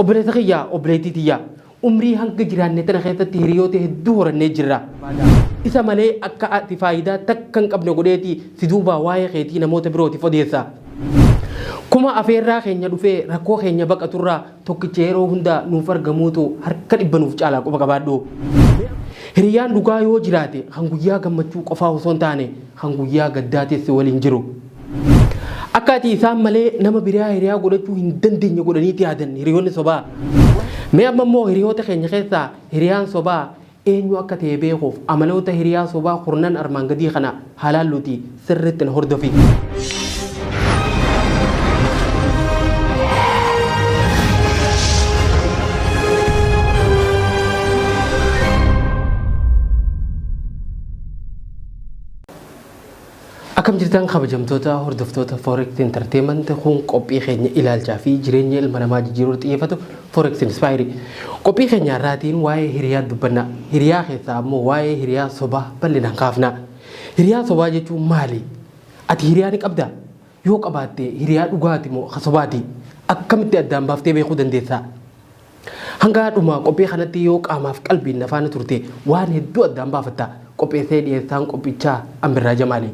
Obboleessa kiyya, obboleettii tiyya, umrii hanga jiraanne tana keessatti hiriyoota hedduu horannee jirra. Isa malee akka ati faayidaa takka hin qabne godheeti si duubaa waa'ee keetii namoota birootiif odeessa. Kuma afeerraa keenya dhufee rakkoo keenya baqaturraa tokkicha yeroo hunda nuuf argamuutu harka dhibba nuuf caalaa quba qabaadhu. Hiriyaan dhugaa yoo jiraate kan guyyaa gammachuu qofaa osoo hin taane kan guyyaa gaddaatis si waliin jiru. Akka ati isaan malee nama biraa hiriyaa godhachuu hin dandeenye godhaniiti yaadan hiriyoonni sobaa. Mee amma immoo hiriyoota keenya keessaa hiriyaan sobaa eenyu akka ta'e beekuuf amaloota hiriyaa sobaa kurnan armaan gadii kana haalaalluuti sirriitti na hordofi. Akkam jirtan kabajamtoota hordoftoota Forex Entertainment kun qophii keenya ilaalchaa fi jireenya ilma namaa jijjiiruuf xiyyeeffatu Forex Inspire. Qophii keenya har'aatiin waa'ee hiriyaa dubbanna. Hiriyaa keessaa ammoo waa'ee hiriyaa sobaa bal'inaan kaafna. Hiriyaa sobaa jechuun maali? Ati hiriyaa ni qabdaa? Yoo qabaatte hiriyaa dhugaati moo ka sobaati? Akkamitti addaan baaftee beekuu dandeessaa? Hangaa dhumaa qophii kanatti yoo qaamaaf qalbiin na faana turte waan hedduu addaan baafatta. Qopheessee dhiyeessaan qophichaa Ambirraa Jamaali.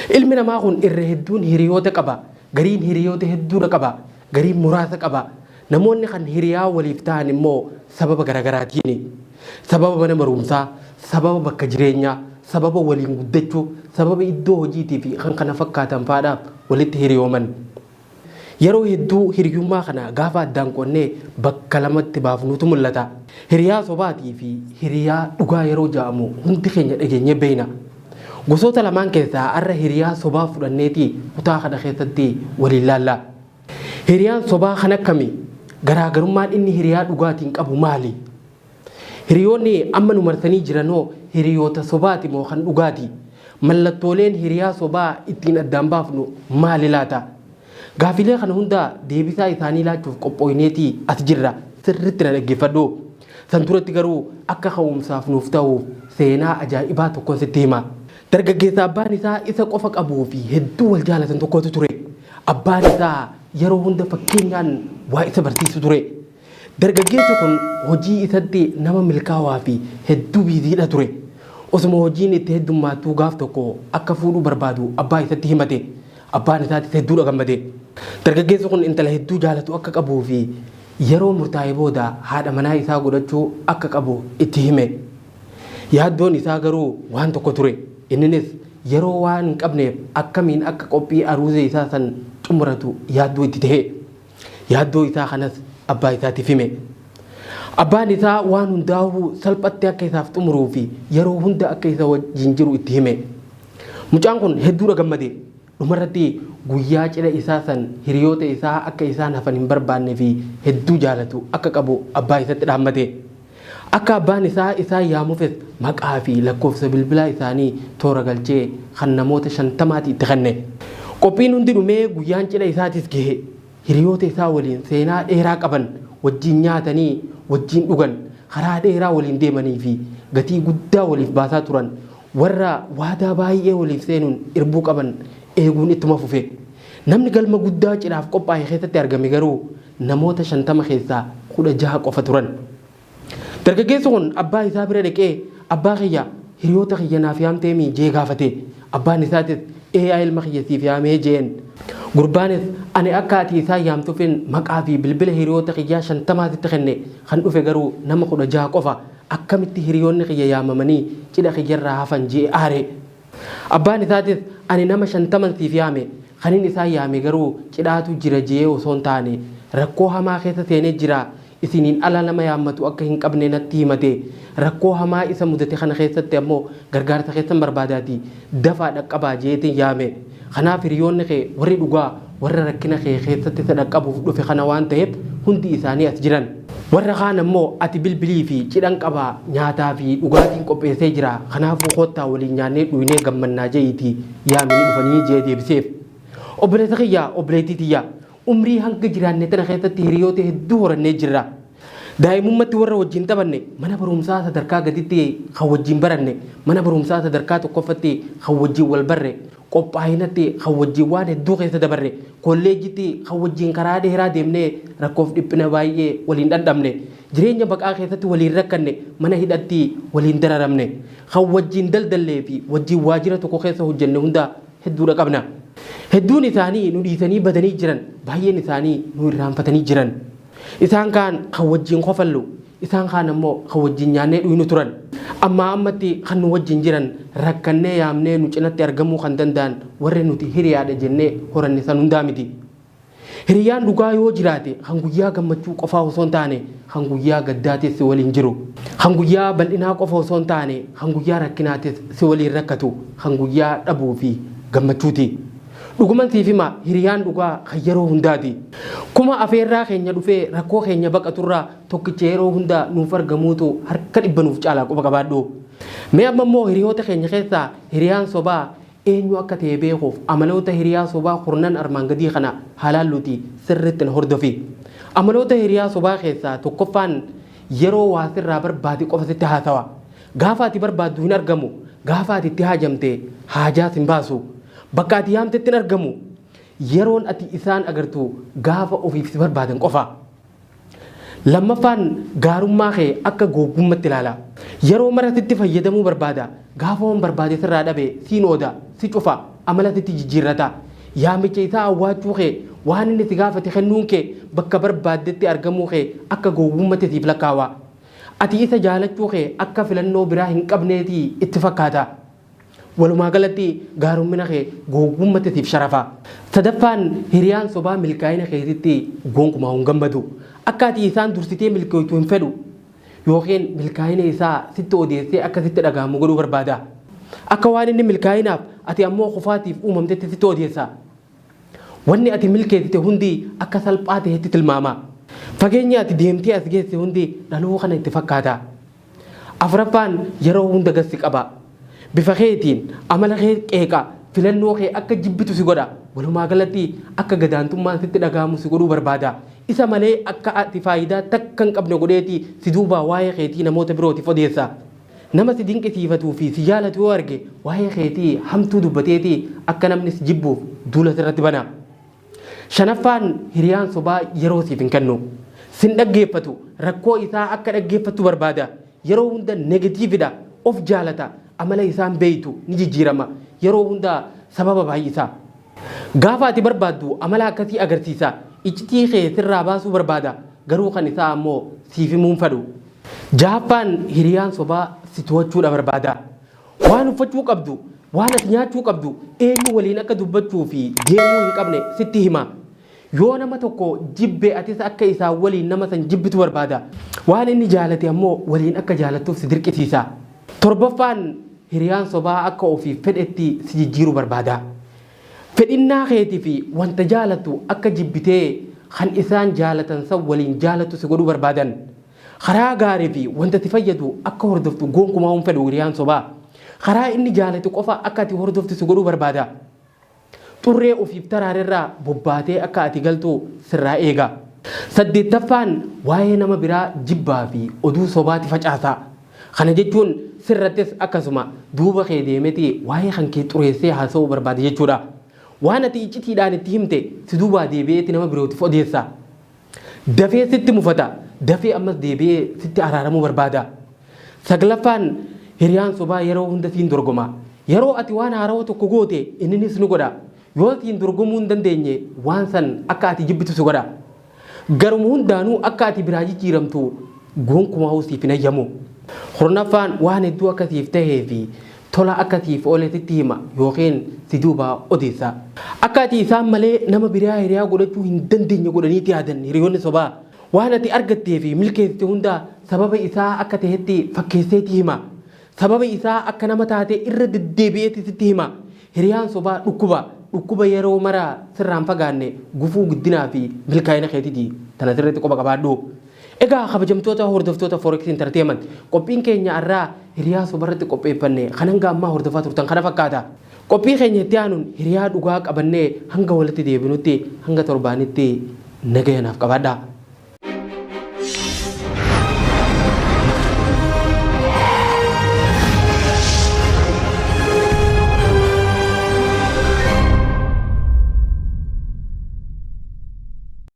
Ilmi namaa kun irra hedduun hiriyoota qaba. Gariin hiriyoota hedduudha qaba. garii muraasa qaba. Namoonni kan hiriyaa waliif ta'an immoo sababa garaagaraatiini. Sababa mana barumsaa, sababa bakka jireenyaa, sababa waliin guddachuu, sababa iddoo hojiitii fi kan kana fakkaatan faadhaaf walitti hiriyooman. Yeroo hedduu hiriyummaa kana gaafa addaan qonnee bakka lamatti baafnuutu mul'ata. Hiriyaa sobaatii fi hiriyaa dhugaa yeroo ja'amu hundi keenya dhageenyee beeyna. Gosoota lamaan keessaa arra hiriyaa sobaa fudhanneeti kutaa kana keessatti waliin laalla. Hiriyaan sobaa kan akkami? Garaagarummaan inni hiriyaa dhugaatiin qabu maali? Hiriyoonni amma nu marsanii jiranoo hiriyoota sobaati moo kan dhugaati? Mallattooleen hiriyaa sobaa ittiin addaan baafnu maali laata? Gaafilee kana hundaa deebisaa isaanii laachuuf qophooyneeti as jirra. Sirritti na dhaggeeffadhu. San duratti garuu akka ka'umsaaf nuuf ta'uuf seenaa ajaa'ibaa tokkon sitti hima. Dargaggeessa abbaan isaa isa qofa qabuu fi hedduu wal jaalatan tokkotu ture. Abbaan isaa yeroo hunda fakkeenyaan waa isa barsiisu ture. Dargaggeessi kun hojii isatti nama milkaawaa fi hedduu biiziidha ture. Osuma hojiin itti heddummaattuu gaaf tokko akka fuudhuu barbaadu abbaa isatti himate. Abbaan isaatis hedduudha gammade. Dargaggeessi kun intala hedduu jaalatu akka qabuu fi yeroo murtaa'e booda haadha manaa isaa godhachuu akka qabu itti hime. Yaaddoon isaa garuu waan tokko ture. Inninis yeroo waan hin qabneef akkamiin akka qophii aruuza isaa san xumuratu yaaddoo itti ta'e. Yaaddoo isaa kanas abbaa isaatiif hime. Abbaan isaa waan hundaa'uu salphatti akka isaaf xumuruu fi yeroo hunda akka isa wajjin jiru itti hime. Mucaan kun hedduudha gammade. Dhumarratti guyyaa cidha isaa san hiriyoota isaa akka isaan hafan hin barbaannee fi hedduu jaalatu akka qabu abbaa isatti dhaammate. Akka abbaan isaa isaan yaamufis maqaa fi lakkoofsa bilbilaa isaanii toora galchee kan namoota shantamaati itti kenne. Qophiin hundi dhumee guyyaan cidha isaatis gahe. Hiriyoota isaa waliin seenaa dheeraa qaban wajjiin nyaatanii wajjiin dhugan, karaa dheeraa waliin deemanii fi gatii guddaa waliif baasaa turan Warra waadaa baay'ee waliif seenuun irbuu qaban eeguun ittuma fufe. Namni galma guddaa cidhaaf qophaa'e keessatti argame garuu namoota 50 keessaa 16 qofa turan. Dargaggeessi kun abbaa isaa bira dhaqee abbaa kiyya hiriyoota kiyya naaf yaamteemii jee gaafate. Abbaan isaatis ee yaa ilma kiyya siif yaamee jeen. Gurbaanis ani akka ati isaan yaamtuufin maqaa fi bilbila hiriyoota kiyyaa 50 sitti kenne kan dhufe garuu nama 16 qofa Akkamitti hiriyoonni kiyya yaamamanii cidha kiyyarraa hafan je'ee aare. Abbaan isaatis ani nama shantaman siif yaame, kanin isaan yaame garuu cidhaatu jira je'ee osoo hin taane, rakkoo hamaa keessa seenee jira, isiniin ala nama yaammatu akka hin qabne natti himate, rakkoo hamaa isa mudate kana keessatti ammoo gargaarsa keessan barbaadaatii dafaa dhaqqabaa je'eetin yaame. Kanaaf hiriyoonni kee warri dhugaa warra rakkina kee keessatti isa dhaqqabuuf dhufe kana waan ta'eef hundi isaanii as jiran. Warra kaan ammoo ati bilbilii fi cidhan qaba, nyaataa fi dhugaatiin qopheessee jira, kanaafuu koottaa waliin nyaannee dhuynee gammannaa je'iitii yaami ni dhufanii je'ee deebiseef. Obboleessa kiyya, obboleettii tiyya! Umrii hanga jiraanne tana keessatti hiriyoota hedduu horannee jirra. Daa'imummatti warra wajjin taphanne, mana barumsaa sadarkaa gaditti kan wajjin baranne, mana barumsaa sadarkaa tokkoffatti kan wajjin wal barre, qophaa'inatti kan wajjin waan hedduu keessa dabarre, kolleejjitti kan wajjin karaa dheeraa deemnee rakkoof dhiphina baay'ee waliin dhandhamne, jireenya baqaa keessatti waliin rakkanne, mana hidhatti waliin dararamne, kan wajjin daldallee fi wajjin waajjira tokko keessa hojjenne hunda hedduudha qabna. Hedduun isaanii nu dhiisanii badanii jiran, baay'een isaanii nu irraanfatanii jiran. Isaan kaan kan wajjin kofallu, isaan kaan ammoo kan wajjin nyaannee dhuynu turan. Ammaa ammatti kan nu wajjin jiran, rakkannee yaamnee nu cinatti argamuu kan danda'an warra nuti hiriyaadha jennee horanne san hundaa miti. Hiriyyaan dhugaa yoo jiraate kan guyyaa gammachuu qofaa osoo hin taane kan guyyaa gaddaatis si waliin jiru. Kan guyyaa bal'inaa qofa osoo hin taane kan guyyaa rakkinaatis si waliin rakkatu kan guyyaa dhabuu fi gammachuuti. Dhuguman siif hima hiriyaan dhugaa kan yeroo hundaati. Kuma afeerraa keenya dhufee rakkoo keenya baqaturraa tokkicha yeroo hunda nuuf argamuutu harka dhibba nuuf caalaa quba qabaadhu. Mee amma immoo hiriyoota keenya keessaa hiriyaan sobaa Eenyu akka ta'e beekuuf amaloota hiriyaa sobaa kurnan armaan gadii kana haa laalluutii sirriitti na hordofi. Amaloota hiriyaa sobaa keessaa tokkoffaan yeroo waa sirraa barbaade qofa sitti haasawa. Gaafa ati barbaaddu hin argamu, gaafa ati itti haajamte haajaas hin baasu. Bakka ati yaamtetti hin argamu. Yeroon ati isaan agartu gaafa ofiif si barbaadan qofa. Lammaffaan gaarummaa kee akka googgummatti ilaala. Yeroo mara sitti fayyadamuu barbaada. Gaafa waan barbaade sirraa dhabe siin ooda, si cufa, amala sitti jijjiirrata. Yaamicha isaa awwaachuu kee, waan inni si gaafate kennuun kee, bakka barbaaddetti argamuu kee akka googgummatti siif lakkaawa. Ati isa jaalachuu kee akka filannoo biraa hin qabneeti itti fakkaata. Walumaa galatti gaarummina kee gowwummatti siif sharafa. Sadaffaan hiriyaan sobaa milkaa'ina keetitti gonkumaa hin gammadu. Akka ati isaan dursitee milkooytu hin fedhu. Yookiin milkaa'ina isaa sitti odeessee akka sitti dhaga'amu godhuu barbaada. Akka waan inni milkaa'inaaf ati ammoo kufaatiif uumamtetti sitti odeessa. Wanni ati milkeessite hundi akka salphaa ta'etti tilmaama. Fageenyi ati deemtee as geesse hundi dhaloo kana itti fakkaata. Afraffaan yeroo hunda gad si qaba. Bifa keetiin amala kee qeeqa, filannoo kee akka jibbitu si godha. Walumaa galatti akka gadaantummaan sitti dhaga'amu si godhuu barbaada. Isa malee akka ati faayidaa takka hin qabne godheeti si duubaa waa'ee keetii namoota birootiif odeessa. Nama si dinqisiifatuu fi si jaalatu yoo arge waa'ee keetii hamtuu dubbateeti akka namni si jibbuuf duula sirratti bana. Shanaffaan hiriyaan sobaa yeroo siif hin kennu. Sin dhaggeeffatu, rakkoo isaa akka dhaggeeffattu barbaada. Yeroo hunda negatiividha, of jaalata, amala isaa hin beektu, ni jijjiirama. Yeroo hunda sababa baay'isa. Gaafa ati barbaaddu amala akkasii agarsiisa. Iccitii kee sirraa baasuu barbaada, garuu kan isaa ammoo siif himuu hin fadhu. Jahaffaan hiriyaan sobaa si to'achuudha barbaada. Waan uffachuu qabdu, waan ati nyaachuu qabdu, eenyu waliin akka dubbachuu fi deemuu hin qabne sitti hima. Yoo nama tokko jibbe atis akka isaa waliin nama san jibbitu barbaada. Waan inni jaalate ammoo waliin akka jaalattuuf si dirqisiisa. Torbaffaan hiriyaan sobaa akka ofiif fedhetti si jijjiiru barbaada. Fedhinnaa keeti fi wanta jaalattu akka jibbitee kan isaan jaalatan san waliin jaalattu si godhuu barbaadan. Karaa gaarii fi wanta ati fayyadu akka hordoftu gonkumaa hin fedhu hiriyaan sobaa. Karaa inni jaalatu qofa akka ati hordoftu si godhuu barbaada. Xurree ofiif taraarerraa bobbaatee akka ati galtu sirraa eega. Saddeettaffaan waa'ee nama biraa jibbaa fi oduu sobaati facaasa. Kana jechuun sirrattis akkasuma duuba kee deemeti waa'ee kan kee xureessee haasa'uu barbaada jechuudha. Waan ati iccitiidhaan itti himte si duubaa deebi'eeti nama birootiif odeessa. Dafee sitti mufata. Dafee ammas deebi'ee sitti araaramuu barbaada. Saglaffaan hiriyaan sobaa yeroo hunda siin dorgoma. Yeroo ati waan haarawa tokko goote inninis ni godha. Yoo siin dorgomuu hin dandeenye waan san akka ati jibbitu si godha. Garuma hundaanuu akka ati biraa jijjiiramtu gonkumaahuu siif hin hayyamu. Kurnaffaan waan hedduu akka siif tahee fi Tola akka siif oole sitti hima yookiin si duubaa odeessa. Akka ati isaan malee nama biraa hiriyaa godhachuu hin dandeenye godhaniiti yaadan hiriyoonni sobaa. Waan ati argattee fi milkeessite hunda sababa isaa akka tahetti fakkeesseeti hima. Sababa isaa akka nama taate irra deddeebi'eeti sitti hima. Hiriyaan sobaa dhukkuba. Dhukkuba yeroo mara sirraa hin fagaanne gufuu guddinaa fi milkaa'ina keetiti. Tana sirriitti quba qabaadhu. Egaa kabajamtoota hordoftoota Forex Entertainment qophiin keenya arraa hiriyaa sobarratti qopheeffanne kan hanga ammaa hordofaa turtan kana fakkaata. Qophii keenya itti aanuun hiriyaa dhugaa qabannee hanga walitti deebinutti hanga torbaanitti nagaya naaf qabaadhaa.